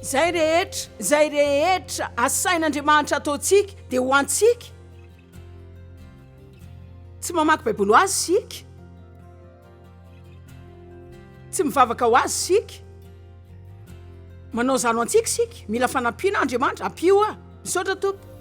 Izay rehetra, izay rehetra asain'Andriamanitra ataontsika dia ho antsika. Tsy mamaky Baiboly ho azy isika, tsy mivavaka ho azy isika, manao izany ho antsika isika, mila fanampiana aho Andriamanitra, ampio aho. Misaotra Tompo.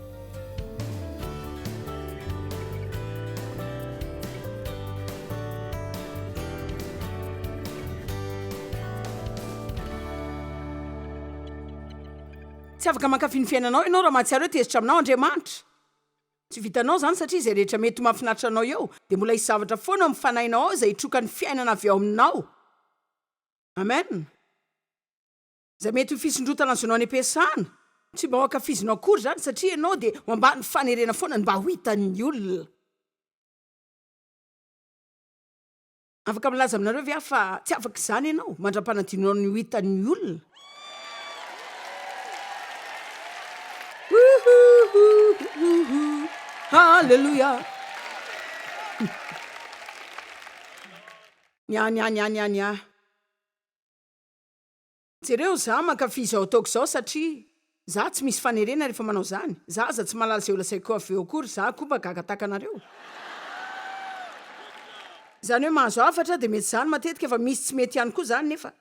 Tsy afaka mankafy ny fiainanao ianao raha mahatsiaro hoe tezitra aminao Andriamanitra. Tsy vitanao izany satria izay rehetra mety ho mahafinaritra anao eo dia mbola hisy zavatra foana ao amin'ny fanahinao ao izay hitroka ny fiainana avy ao aminao. Amen. Izay mety ho fisondrotana azonao an'epesana. Tsy mba ho ankafizinao akory izany satria ianao dia ho ambany fanerena foana ny mba ho hitan'ny olona. Afaka milaza aminareo ve aho fa tsy afaka izany ianao mandra-panadinonao ny ho hitan'ny olona? Ohohohohohoho! Haleloia! Ny ahy, ny ahy, ny ahy, ny ahy, ny ahy. Jereo za mankafy izao ataoko izao satria za tsy misy fanerena rehefa manao zany za aza tsy malala zay olazaiko avy eo akory za koa mba gaga taka anareo zany hoe mahazo hafatra de mety zany matetika fa misy tsy mety ihany koa zany nefa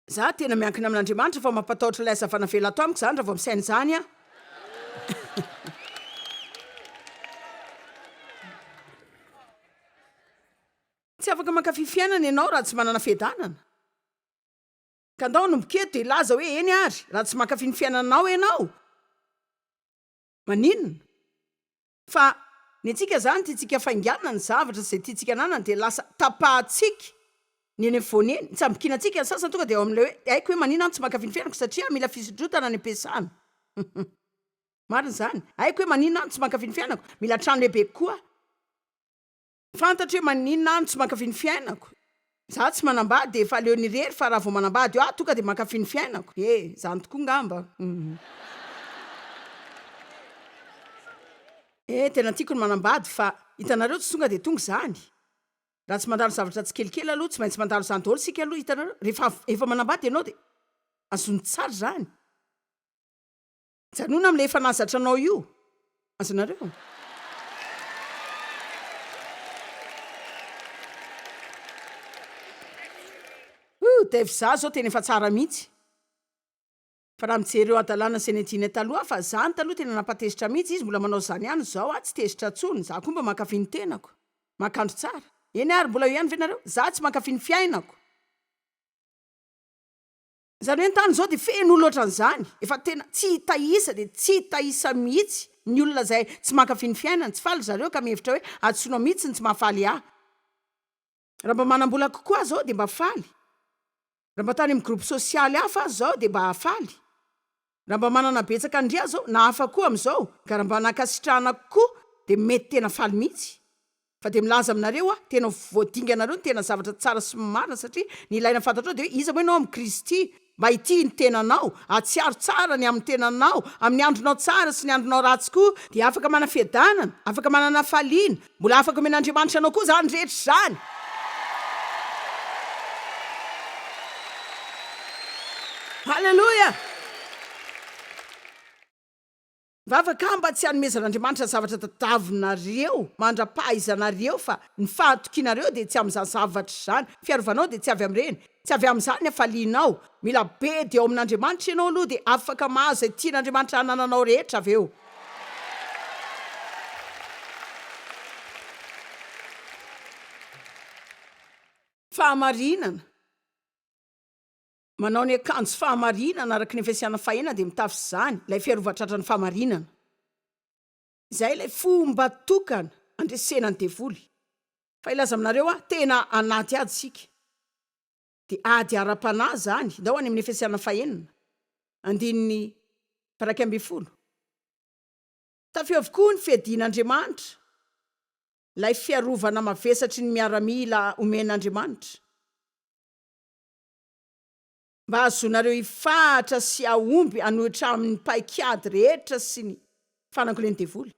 za tena miankina amin'Andriamanitra fa mampatahotra ilay hazavana avela ato amiko zany raha vao misaina izany aho Tsy afaka mankafy fiainana ianao raha tsy manana fiadanana. Ka ndao hanomboka eto dia hilaza hoe eny ary, raha tsy mankafy ny fiainananao ianao, maninona? Fa ny antsika izany tiantsika fainganana ny zavatra izay tiantsika ananana dia lasa tapahantsika ny eny afovoany eny. Nitsambokiana antsika ny sasany tonga dia ao amin'ilay hoe haiko hoe maninona aho tsy mankafy ny fiainako satria mila fisondrotana any am-piasana. Marina izany. Haiko hoe maninona aho tsy mankafy ny fiainako, mila trano lehibe kokoa aho. Fantatro hoe maninona aho no tsy mankafy ny fiainako. Za tsy manambady e, fa aleony irery fa raha vao manambady aho tonga dia mankafy ny fiainako. He, zany tokoa ngamba. He, tena tiako ny manambady fa hitanareo tsy tonga dia tonga izany. Raha tsy mandalo zavatra tsikelikely aloha, tsy maintsy mandalo izany daholo isika aloha, hitanareo? Rehefa avy, efa manambady ianao dia azony tsara izany. Mijanona amin'ilay efa nahazatranao io. Azonareo? Ooh, Dave za zao tena efa tsara mihitsy. Fa raha mijery ireo hadalana Zenedine taloha fa zany taloha tena nampatezitra mihitsy izy mbola manao zany ihany zao ah tsy tezitra tsony za koa mba mankafy ny tenako mankandro tsara eny ary mbola eo ihany ve nareo za tsy mankafy ny fiainako Izany hoe ny tany izao dia feno olona ohatran'izany, efa tena tsy hita isa dia tsy hita isa mihitsy ny olona izay tsy mankafy ny fiainana, tsy faly ry zareo ka mihevitra hoe hadisoana mihitsy ny tsy mahafaly ahy. Raha mba manam-bola kokoa aho izao dia mba faly, raha mba tany amin'ny groupe sosialy hafa aho izao dia mba hahafaly. Raha mba manana betsaka ndry aza aho na hafa koa amin'izao ka raha mba nankasitrahana koa dia mety tena faly mihitsy. Fa dia milaza aminareo aho, tena ho voadinganareo ny tena zavatra tsara sy marina satria ny ilaina fantatrao dia hoe iza moa ianao amin'i Kristy. Mba hitia ny tenanao, hahatsiaro tsara ny amin'ny tenanao, amin'ny andronao tsara sy ny andronao ratsy koa, dia afaka manam-piadanana, afaka manana hafaliana, Mbola afaka omen'Andriamanitra anao koa izany rehetra izany. Aleloia! Vavaka mba tsy hanomezan'Andriamanitra zavatra tadiavinareo mandra-pahaizanareo, fa ny fahatokianareo dia tsy amin'izany zavatra izany, fiarovanao dia tsy avy amin'ireny, Tsy avy amin'izany ny hafalianao. Mila be dia ao amin'Andriamanitra ianao aloha dia afaka mahazo izay tian'Andriamanitra hanananao rehetra avy eo. Fahamarinana, Manao ny akanjo fahamarinana araka ny efesiana fahena dia mitafy izany, ilay fiarovan-tratran'ny fahamarinana. Izay ilay fomba tokana andresena ny devoly. Fa hilaza aminareo aho, tena anaty ady isika. Dia ady ara-panahy izany. Hindao any amin'ny Efesiana fahenina, andininy iraika ambin'ny folo. Tafio avokoa ny fiadian'Andriamanitra, ilay fiarovana mavesatry ny miaramila omen'Andriamanitra. mba hahazoanareo hifahatra sy hahomby hanohitra amin'ny paik'ady rehetra sy ny fanangolen'ny devoly.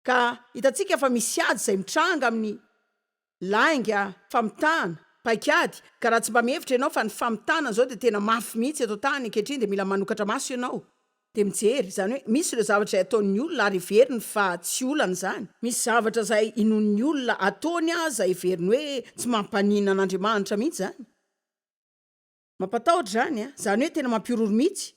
Ka hitantsika fa misy ady izay mitranga amin'ny lainga, famitana, paik'ady, ka raha tsy mba mihevitra ianao fa ny famitana izao dia tena mafy mihitsy eto an-tany ankehitriny dia mila manokatra maso ianao dia mijery, izany hoe misy ireo zavatra izay ataon'ny olona ary heveriny fa tsy olana izany, misy zavatra izay inoan'ny olona ataony aza heveriny hoe tsy mampaninona an'Andriamanitra mihitsy izany. Mampatahotra izany a! Izany hoe tena mampihorohoro mihitsy.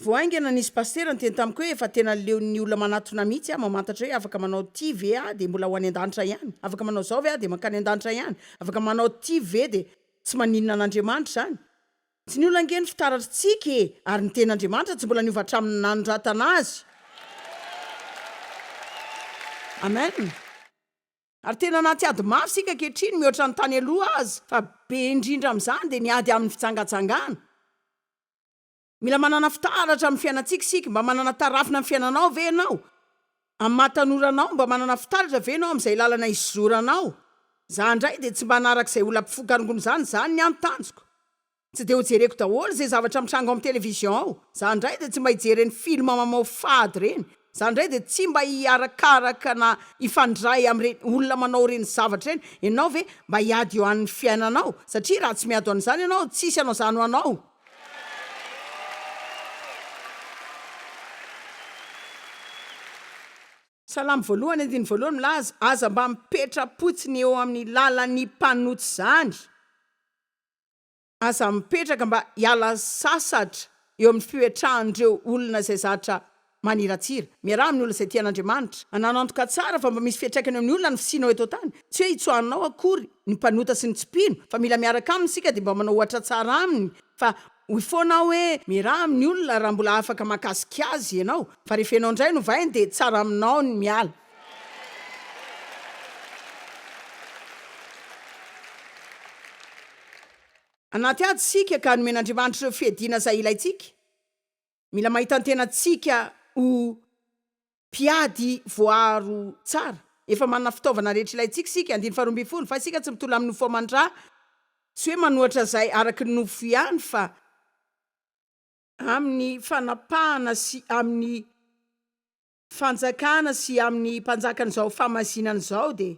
Vao haingana nisy pasitera niteny tamiko hoe efa tena leon'ny olona manatona mihitsy aho mamantatra hoe afaka manao ity ve aho dia mbola ho any an-danitra ihany? Afaka manao izao ve aho dia mankany an-danitra ihany? Afaka manao ity ve dia tsy maninona an'Andriamanitra izany? Tsy ny olona ange no fitaratr'tsika e! Ary ny Tenin'Andriamanitra tsy mbola niova hatramin'ny nanoratana azy. Amen. Ary tena anaty ady mafy isika ankehitriny mihoatra ny tany aloha aza, fa be indrindra amin'izany dia ny ady amin'ny fijangajangana. Mila manana fitaratra amin'ny fiainantsika isika, mba manana tarafina amin'ny fiainanao ve ianao? Amin'ny maha tanora anao, mba manana fitaratra ve ianao amin'izay lalana hizoranao? Izaho indray dia tsy mba hanaraka izay olam-pifokarongon'izany, izany ny an-tanjoko. Tsy dia ho jereko daholo izay zavatra mitranga ao amin'ny television ao, za indray dia tsy mba hijery ireny film mamao fady ireny, za indray dia tsy mba hiharakaraka na hifandray amin'ireny olona manao ireny zavatra ireny, ianao ve mba hiady eo an'ny fiainanao? Satria raha tsy miady eo an'izany ianao, tsisy hanao izany ho anao. Salamo voalohany andininy voalohany milaza, Aza mba mipetra-potsiny eo amin'ny lalan'ny mpanota izany. Aza mipetraka mba hiala sasatra eo amin'ny fipetrahan'ireo olona izay zatra maniratsira. Miaraha amin'ny olona izay tian'Andriamanitra. Ananantoka tsara fa mba misy fiantraikany eo amin'ny olona ny fisianao eto an-tany. Tsy hoe hitsoahanao akory ny mpanota sy ny tsy mpino, fa mila miaraka aminy isika dia mba manao ohatra tsara aminy fa hoy foana aho hoe miaraha amin'ny olona raha mbola afaka mahakasika azy ianao, fa rehefa ianao indray no vainy dia tsara aminao ny miala. Anaty ady isika ka nomen'Andriamanitra ireo fiadiana izay ilaintsika. Mila mahita ny tenantsika ho mpiady voaaro tsara. Efa manana fitaovana rehetra ilaintsika isika. Andininy faharoa ambin'ny folo, Fa isika tsy mitolona amin'ny nofo aman-dra, tsy hoe manoatra izay araka ny nofo ihany, fa amin'ny fanapahana sy amin'ny fanjakana sy amin' ny mpanjakan' izao fahamasinana izao dia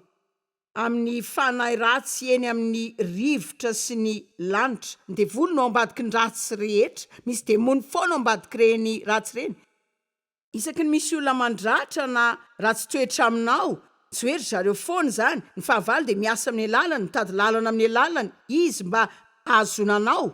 amin' ny fanahy ratsy eny amin' ny rivotra sy ny lanitra, ny devoly no ao ambadiky ny ratsy rehetra, misy demony foana ao ambadiky ireny ratsy ireny, isaky ny misy olona mandratra na ratsy toetra aminao tsy hoe ry zareo foana izany, ny fahavalo dia miasa amin' ny alalany, mitady lalana amin' ny alalany izy mba hahazoana anao.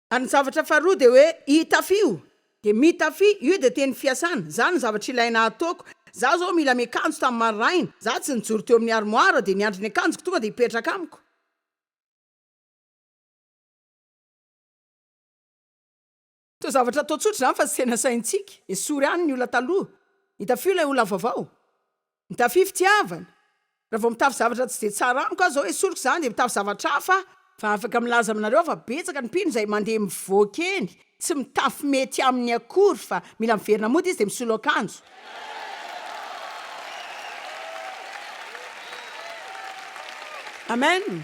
Ary ny zavatra faharoa dia hoe itafio, dia mitafy, io dia teny fiasana, za no zavatra ilaina ataoko, za zao mila miakanjo tamin'ny maraina, za tsy nijoro teo amin'ny armoire dia niandry ny akanjoko tonga dia hipetraka amiko, toa zavatra atao tsotra izany fa tsy tena sahintsika, esory any ny olona taloha, itafio ilay olona vaovao. Mitafy fitiavana. Raha vao mitafy zavatra tsy dia tsara amiko aho zao esoriko zany dia mitafy zavatra hafa aho, fa afaka milaza aminareo aho fa betsaka ny mpino izay mandeha mivoaka eny tsy mitafy mety aminy akory fa mila miverina mody izy dia misolo akanjo. Amen.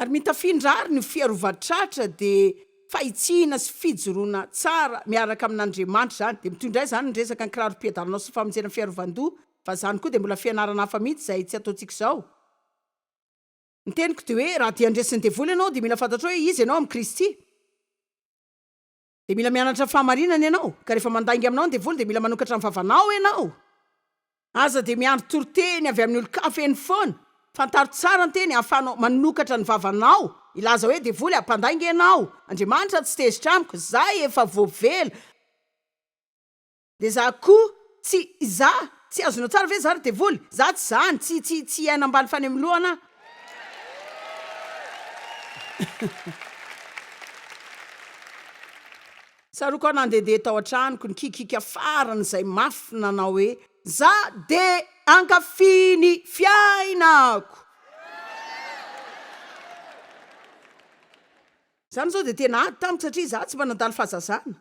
Ary mitafindra àry ny fiarovan-tratra, dia fahitsihina sy fijoroana tsara miaraka amin'Andriamanitra izany. Dia mitondra aiza izany ny resaka ny kirarom-piadananao sy ny famonjena ny fiarovan-doha, fa izany koa dia mbola fianarana hafa mihitsy izay tsy ataontsika izao. Ny teniko dia hoe raha dia handresy ny devoly ianao dia mila fantatrao hoe iza ianao amin'i Kristy. Dia mila mianatra ny fahamarinana ianao, ka rehefa mandainga aminao ny devoly dia mila manokatra ny vavanao ianao. Aza dia miandry toriteny avy amin'ny olon-kafa eny foana. Fantaro tsara ny teny ahafahanao manokatra ny vavanao. Hilaza hoe, Devoly a, mpandainga ianao. Andriamanitra tsy tezitra amiko. Izaho efa voavela. De za ko tsy za tsy azonao tsara ve za ry devoly za tsy zany tsy tsy tsy hiaina ambany fanemolohana aho Tsaroako aho nandehandeha tao an-tranoko ny kikika farany izay mafy nanao hoe za de ankafy ny fiainako. Izany izao dia tena ady tamiko satria za tsy mba nandalo fahazazana.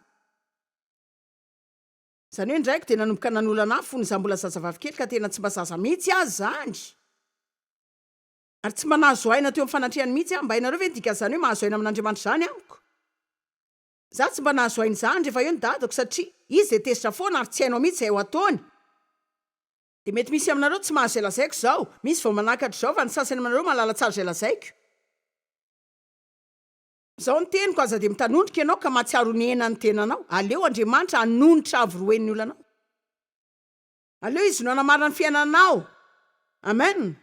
Izany hoe ny raiko dia nanomboka nanolana ahy fony izaho mbola zazavavy kely ka tena tsy mba zaza mihitsy aza izany. Ary tsy mba nahazo aina teo amin'ny fanatrehany mihitsy aho. Mba hainareo ve ny dikan'izany hoe mahazo aina amin'Andriamanitra izany amiko? Izaho tsy mba nahazo aina izany rehefa eo ny dadako satria izy dia tezitra foana ary tsy hainao mihitsy izay ho ataony. Dia mety misy aminareo tsy mahazo izay lazaiko izao. Misy vao manakatry izao fa ny sasany aminareo mahalala tsara izay lazaiko. Izao ny teniko, aza dia mitanondrika ianao ka mahatsiaro ny hena ny tenanao. Aleo Andriamanitra hanonitra havoroeny ny olanao. Aleo Izy no hanamarina ny fiainanao. Amen.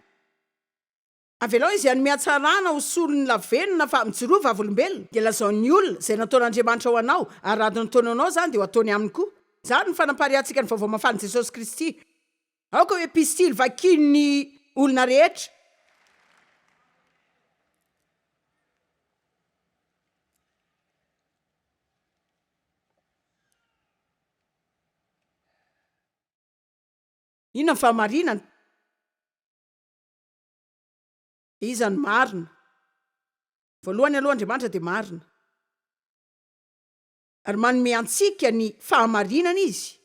Avelao Izy hanome hatsarana ho solon'ny lavenona fa mijoroa vavolombelona dia lazao ny olona izay nataon'Andriamanitra ho anao ary raha adiny ataony ho anao izany dia ho ataony aminy koa. Izany no fanapariahantsika ny Vaovao Mahafalin'i Jesosy Kristy. Aoka ho epistily vakian'ny olona rehetra. Inona ny fahamarinana? Iza no marina? Voalohany aloha Andriamanitra dia marina. ary manome antsika ny fahamarinana izy.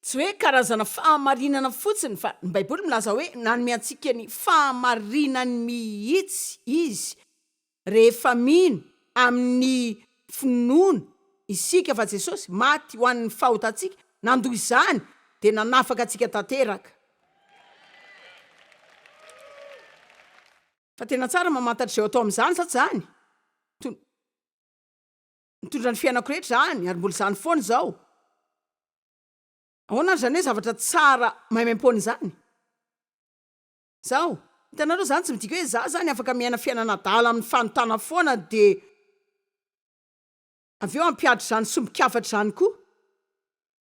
Tsy hoe karazana fahamarinana fotsiny fa ny Baiboly milaza hoe nanome antsika ny fahamarinany mihitsy izy. Rehefa mino amin'ny finoana isika fa Jesosy maty ho an'ny fahotantsika, nandoa izany, dia nanafaka antsika tanteraka. Fa tena tsara mamantatra izay ho atao amin'izany sa tsy izany? Ton. Nitondra ny fiainako rehetra izany ary mbola izany foana izao. Ahoana ary izany hoe zavatra tsara maimaim-poana izany? Izao, hitanareo, izany tsy midika hoe izaho izany afaka miaina fiainana adala amin'ny fanontana foana dia avy eo hampihatra izany sombin-kafatra izany koa.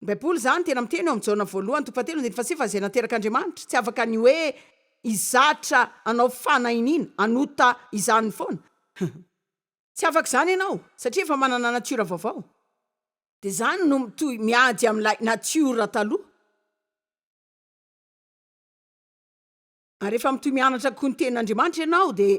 Ny Baiboly izany tena miteny ao amin'ny Jaona voalohany toko fahatelo andininy fahasivy fa izay naterak'Andriamanitra tsy afaka ny hoe hizatra hanao fanahiniana, hanota izany foana. Tsy afaka izany ianao satria efa manana natiora vaovao. Dia izany no mitohy miady amin'ilay natiora taloha. Ary efa mitohy mianatra koa ny tenin'Andriamanitra ianao dia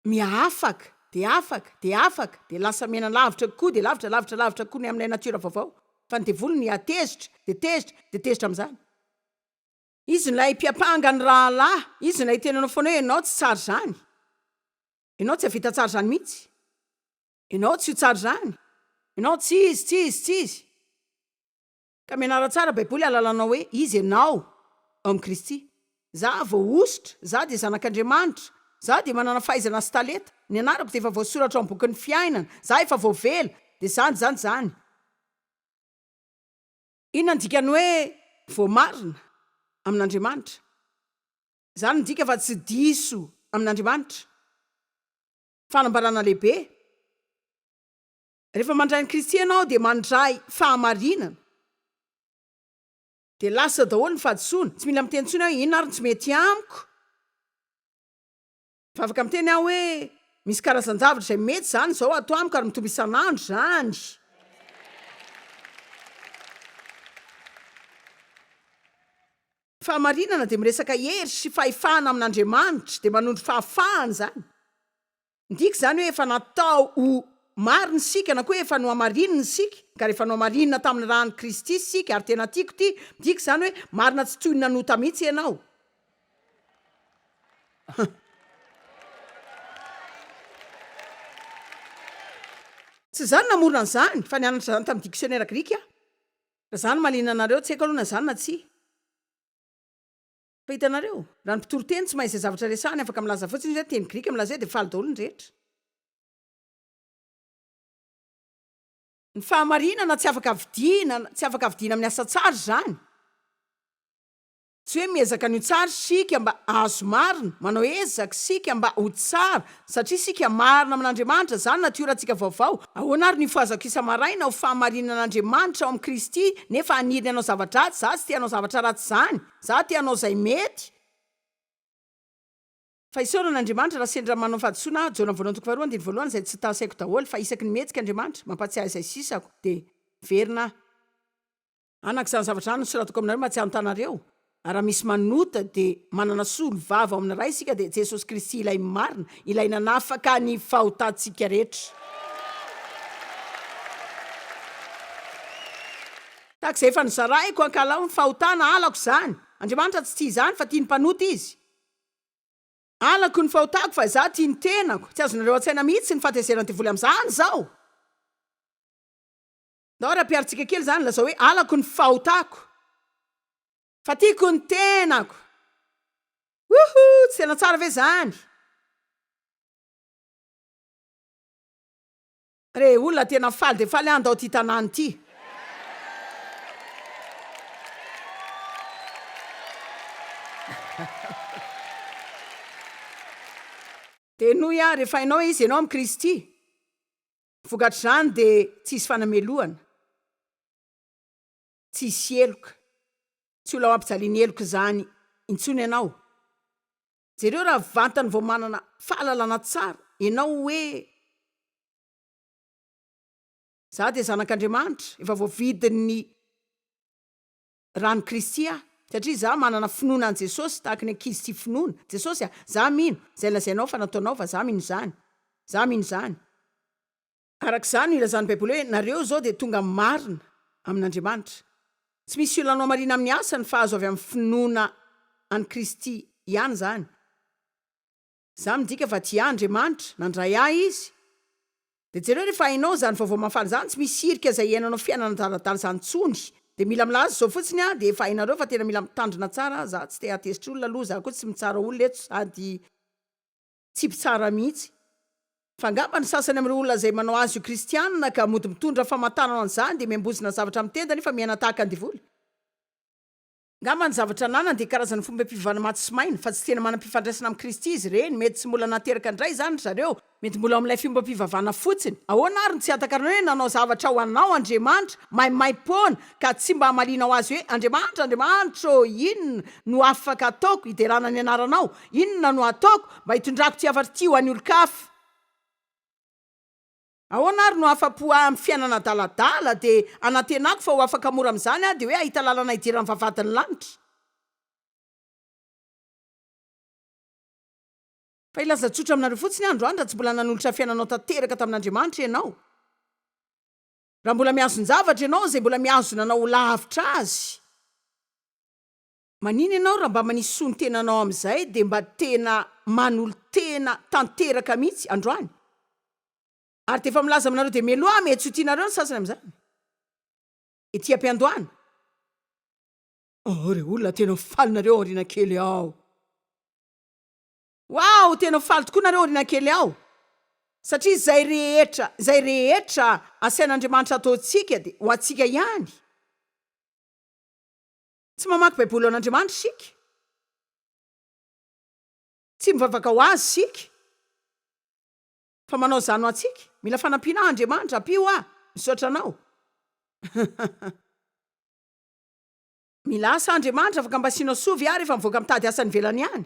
miafaka, dia afaka, dia afaka, dia lasa miaina lavitra kokoa, dia lavitra, lavitra, lavitra kokoa ny amin'ilay natiora vaovao. Fa ny devoly niha-tezitra, dia tezitra, dia tezitra amin'izany. Izy ilay mpiampanga ny rahalahy, izy ilay nitenenanao foana hoe ianao tsy tsara izany, ianao tsy hahavita tsara izany mihitsy, ianao tsy ho tsara izany, ianao tsy izy, tsy izy, tsy izy. Ka mianara tsara Baiboly hahalalanao hoe iza ianao ao amin'i Kristy. Za voahosotra, za dia zanak'Andriamanitra, za dia manana fahaizana sy talenta, ny anarako dia efa voasoratra ao amin'ny bokin'ny fiainana, za efa voavela, dia izany, izany, izany. Inona no dikan'ny hoe voamarina amin'Andriamanitra? Izany midika fa tsy diso amin'Andriamanitra. Fanambarana lehibe. Rehefa mandray an'i Kristy ianao dia mandray fahamarinana. Dia lasa daholo ny fahadisoana. Tsy mila miteny intsony hoe inona ary no tsy mety amiko. Vavaka miteny aho hoe, Misy karazan-javatra izay mety izany izao ato amiko ary mitombo isan'andro izany. Fahamarinana dia miresaka hery sy fahefana amin'Andriamanitra, dia manondro fahafahana izany. Midika izany hoe efa natao ho marina isika na koa efa nohamarinina isika, ka rehefa nohamarinina tamin'ny ran'i Kristy isika ary tena tiako ity, midika izany hoe marina tsy toy ny nanota mihitsy ianao. Tsy izaho no namorona an'izany fa nianatra izany tamin'ny diksionera grika aho. Raha izaho no mahaliana anareo, tsy haiko aloha na izany na tsia. Fa hitanareo, raha ny mpitory teny tsy mahay izay zavatra resahany, afaka milaza fotsiny izy hoe teny grika milaza hoe dia faly daholo ny rehetra. Ny fahamarinana tsy afaka vidiana, tsy afaka vidiana amin'ny asa tsara izany. Tsy hoe miezaka ny ho tsara isika mba hahazo marina, manao ezaka isika mba ho tsara satria isika marina amin'Andriamanitra, izany natiorantsika vaovao. Ahoana ary ny ho fahazako isa-maraina ho fahamarinan'Andriamanitra ao amin'i Kristy nefa haniry ny hanao zava-dratsy? Za tsy te hanao zavatra ratsy izany. Za te hanao izay mety. Fa isaorana Andriamanitra raha sendra manao fahadisoana aho, Jaona voalohany toko faharoa andininy voalohany, izay tsy tahasaiko daholo, fa isaky ny mihetsika Andriamanitra, mampatsiahy izay sisako, dia miverina aho. Anaka izany zavatra izany no soratako aminareo mba tsy hanotanareo, ary raha misy manota dia manana solovava ao amin'ny Ray isika dia Jesosy Kristy ilay marina, ilay nanafaka ny fahotantsika rehetra. Tahaka izay efa nozaraiko ankahalao ny fahotana, halako izany. Andriamanitra tsy tia izany fa tia ny mpanota Izy. Halako ny fahotako fa Izaho tia ny tenako. Tsy azonareo an-tsaina mihitsy ny fahatezeran'ny devoly amin'izany izao. Ndao rapiaritsika kely zany lazao hoe alako ny fahotako fa tiako ny tenako wouhou tsy tena tsara ve zany re olona tena faly de faly an ndao ty tanàny ty de noho iah refa hainao hoe izy ianao am kristy Vokatr'izany dia tsy hisy fanamelohana, tsy hisy heloka, tsy ho laoampijalian'ny heloka izany intsony ianao. Jereo raha vantany vao manana fahalalana tsara ianao hoe Za dia zanak'Andriamanitra, efa voavidin'ny Raha an'i Kristy aho, satria izaho manana finoana an'i Jesosy, tahaka ny ankizy tia finoana, Jesosy a, izaho mino, izay lazainao fa nataonao fa izaho mino izany. Izaho mino izany. Araka izany no ilazan'ny Baiboly hoe, Nareo izao dia tonga amin'ny marina, amin'Andriamanitra. Tsy misy olona hanao marina amin'ny asany fa azo avy amin'ny finoana an'i Kristy ihany izany. Izany midika fa tia ahy Andriamanitra, nandray ahy Izy. Dia jereo rehefa hainao izany vaovao mahafaly izany, tsy misy hirika izay hiainanao fiainana adaladala izany intsony. Dia mila milaza izao fotsiny aho, dia efa hainareo fa tena mila mitandrina tsara aho, za tsy te hatezitra olona aloha, za koa tsy mitsara olona eto sady tsy mpitsara mihitsy. Fa angamba ny sasany amin'ireo olona izay manao azy ho kristianina ka mody mitondra famantarana an'izany dia miambozona zavatra amin'ny tenda nefa miaina tahaka ny devoly. Angamba ny zavatra ananany dia karazana fomba fivavahana maty sy maina, fa tsy tena manam-pifandraisana amin'i Kristy izy ireny. Mety tsy mbola nateraka indray izany ry zareo, mety mbola ao amin'ilay fomba fivavahana fotsiny. Ahoana àry no tsy hatakarana hoe nanao zavatra ho anao Andriamanitra maimaim-poana, ka tsy mba hamalianao azy hoe, Andriamanitra, Andriamanitra ô, inona no afaka hataoko hiderana ny anaranao? Inona no hataoko mba hitondrako ity hafatra ity ho an'ny olon-kafa? Ahoana ary no afa-po ahy amin'ny fiainana adaladala? Dia anantenako fa ho afaka mora amin'izany aho, dia hoe hahita lalana hidiran'ny vavahadin'ny lanitra. Fa hilaza tsotra aminareo fotsiny aho androany, raha tsy mbola nanolotra fiainanao tanteraka tamin'Andriamanitra ianao, raha mbola mihazon-javatra ianao izay mbola mihazona anao ho lavitra Azy, Manina ianao raha mba manisy soa ny tenanao amin'izay dia mba tena manolo-tena tanteraka mihitsy androany. Ary dia efa milaza aminareo dia meloa mety tsy ho tianareo ny sasany amin'izany. Ety am-piandohana. Ao re olona tena ho faly nareo aoriana kely ao. Waouh tena ho faly tokoa nareo aoriana kely ao. Satria izay rehetra, izay rehetra asain'Andriamanitra ataontsika dia ho antsika ihany. Tsy mamaky Baiboly ho an'Andriamanitra isika. Tsy mivavaka ho Azy isika. Fa manao izany ho antsika. Mila fanampiana aho Andriamanitra, ampio aho. Misaotra Anao. Mila asa aho Andriamanitra, afaka mba asianao soa ve aho rehefa mivoaka mitady asa any ivelany any?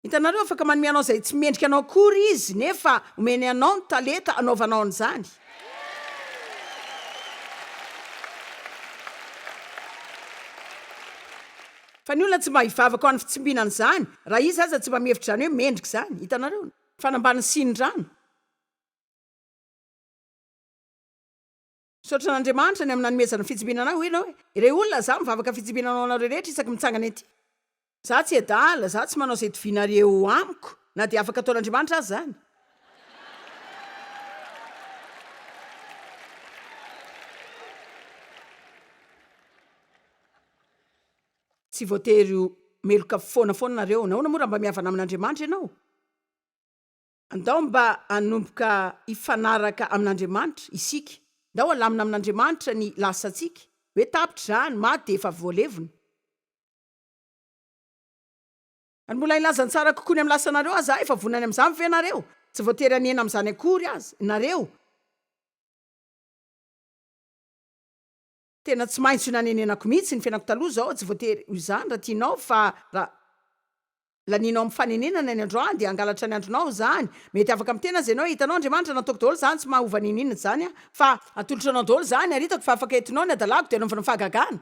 Hitanareo, afaka manome anao izay tsy mendrika anao akory Izy, nefa omeny anao ny talenta anaovanao an'izany. Fa ny olona tsy mba hivavaka ho an'ny fitsimbina an'izany, raha iza aza tsy mba mihevitra izany hoe mendrika izany. Hitanareo? Ny fanambanin'ny siny rano. Misaotra an'Andriamanitra ny amin'ny nanomezany fitsimbinana ahy, hoy ianao e. Irery olona izaho mivavaka fitsimbinana ho anareo rehetra isaky mitsangana ety. Izaho tsy adala, izaho tsy manao izay itovianareo eo amiko, na dia afaka ataon'Andriamanitra aza izany. Tsy voatery ho meloka foana foana nareo. Nahoana moa raha mba mihavana amin'Andriamanitra ianao? Andao mba hanomboka hifanaraka amin'Andriamanitra isika. Ndao halamina amin'Andriamanitra ny lasantsika. Hoe tapitra izany, maty dia efa voalevina. Ary mbola hilaza ny tsara kokoa ny amin'ny lasanareo aza aho. Efa vonona ny amin'izany ve ianareo? Tsy voatery hanena amin'izany akory aza ianareo. Tena tsy maintsy nanenenako mihitsy ny fiainako taloha izao, tsy voatery ho izany raha tianao fa raha lanianao amin'ny fanenenana ny androany dia hangalatra ny andronao izany, mety afaka miteny aza ianao, hitanao Andriamanitra nataoko daholo izany tsy maha-hova niniana izany aho fa atolotro anao daholo izany ary hitako fa afaka entinao ny hadalako dia anaovana fahagagana.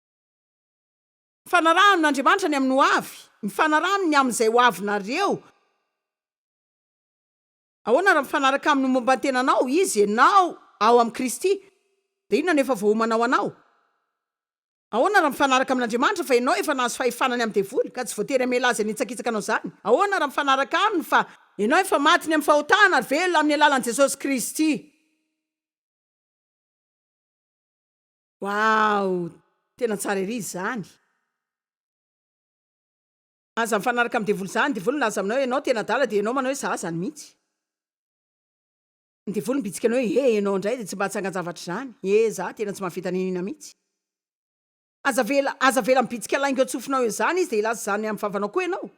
Mifanaraha amin' Andriamanitra ny amin'ny hoavy, mifanaraha aminy ny amin'izay ho avinareo. Ahoana raha mifanaraka aminy momba ny tenanao Izy, ianao ao amin'i Kristy, dia inona no efa voaomana ho anao? Ahoana raha mifanaraka amin' Andriamanitra fa ianao efa nahazo fahefana ny amin'ny devoly ka tsy voatery hamela azy hanitsakitsaka anao izany? Ahoana raha mifanaraka aminy fa ianao efa maty ny amin'ny fahotana ary velona amin'ny alalan'i Jesosy Kristy? Waouh! Tena tsara ery izany. Aza mifanaraka amin'ny devoly zany, devoly milaza aminao enao tena adala dia enao manao hoe za zany mihitsy. Ny devoly mibitsika anao hoe eh enao indray dia tsy mba atsangan-javatra izany, eh za tena tsy mahavita n'inon'inona mihitsy. Aza avela, aza avela mibitsika lainga eo an-tsofinao eo izany izy dia hilaza izany amin'ny vavanao koa enao.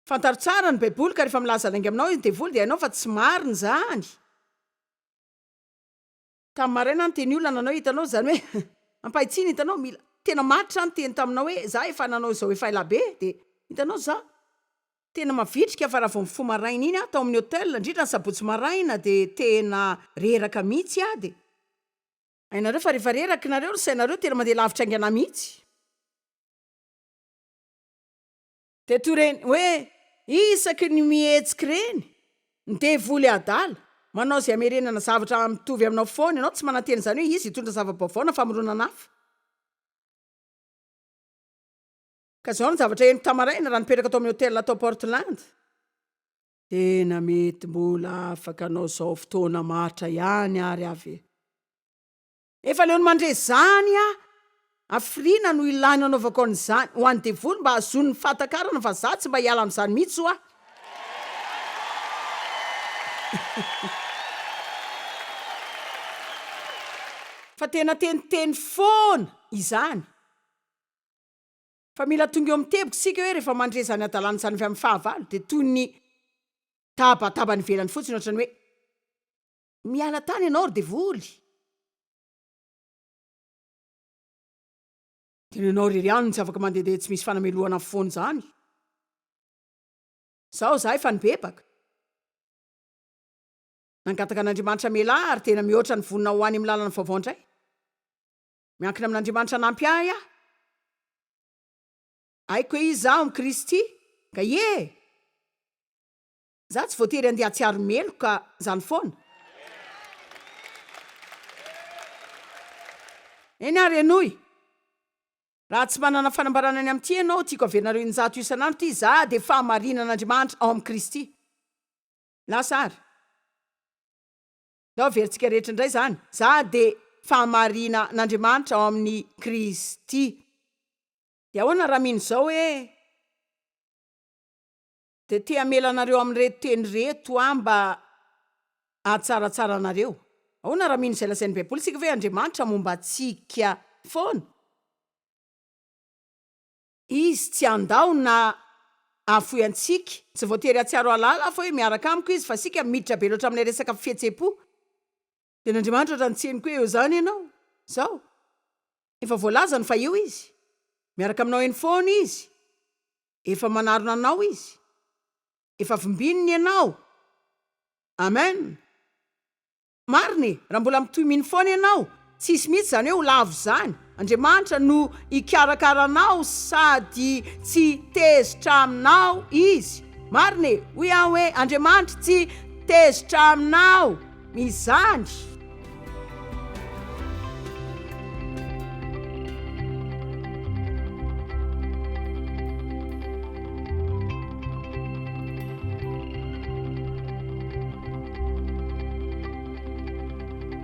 Fantaro tsara ny baiboly ka rehefa milaza lainga aminao ny devoly dia hainao fa tsy marina izany. Tamin'ny maraina niteny olona nanao hitanao izany hoe ampahitsiana hitanao mila tena maty zany teny taminao hoe za efa nanao izao efa ela be dia hitanao za tena mavitrika fa raha vao mifoha maraina iny aho tao amin'ny hotel indrindra ny sabotsy maraina dia tena reraka mihitsy aho dia hainareo fa rehefa reraka nareo ny sainareo tena mandeha lavitra aingana mihitsy. Dia toy ireny hoe isaky ny mihetsika ireny, ny devoly adala, manao izay hamerenana zavatra mitovy aminao foana ianao, tsy manantena izany hoe izy hitondra zava-baovao na famoronana hafa. Ka izao no zavatra henoko tama-raina raha nipetraka tao amin'ny hotela tao Portland, Tena mety mbola afaka hanao izao fotoana matra ihany ary avy eo. Efa leo ny mandre zany a! Hafiriana no ilaina anaovako an'izany ho an'ny devoly mba hahazoany ny fahatakarana fa za tsy mba hiala amin'izany mihitsy ho'a. Fa tena teniteny foana izany. Fa mila tonga eo amin'ny teboka isika hoe rehefa mandre izany hadalana izany avy amin'ny fahavalo dia toy ny tabataba any ivelany fotsiny ohatran'ny hoe Miala tany ianao ry devoly. Tena ianao irery ihany no tsy afaka mandehandeha tsy misy fanamelohana foana izany. Izao izahay efa nibebaka. Nangataka an'Andriamanitra hamela ahy ary tena mihoatra ny vonona ho any amin'ny lalana vaovao indray. Miankina amin'Andriamanitra hanampy ahy aho. Haiko hoe iza aho amin'i Kristy. Ka ie! Za tsy voatery andeha atsiaro meloka zany foana. Eny ary henoy. Raha tsy manana fanambarana ny amin'ity ianao, tiako haverinareo in-jato isan'andro ity, Za dia fahamarinan'Andriamanitra ao amin'i Kristy. Lasa ary. Ndao averintsika rehetra indray izany, Za dia fahamarinan'Andriamanitra ao amin'i Kristy. Dia ahoana raha mino izao hoe. dia te hamela anareo amin'ireto teny ireto aho mba hahatsaratsara anareo, Ahoana raha mino izay lazain'ny Baiboly isika? Ve Andriamanitra momba antsika foana? Izy tsy handao na hahafoy antsika. Tsy voatery hahatsiaro hahalala aho fa hoe miaraka amiko Izy, fa isika miditra be loatra amin'ilay resaka fihetseham-po. Dia ny Andriamanitra raha nitseny koa eo izany ianao, izao. Efa voalazany fa eo Izy. Miaraka aminao eny foana Izy. Efa manarona anao Izy. Efa vimbininy ianao. Amen. Marina e, raha mbola mitohy mino foana ianao, tsy hisy mihitsy izany hoe ho lavo izany. Andriamanitra no hikarakara anao sady tsy tezitra aminao Izy. Marina e! Hoy aho hoe, Andriamanitra tsy tezitra aminao izany.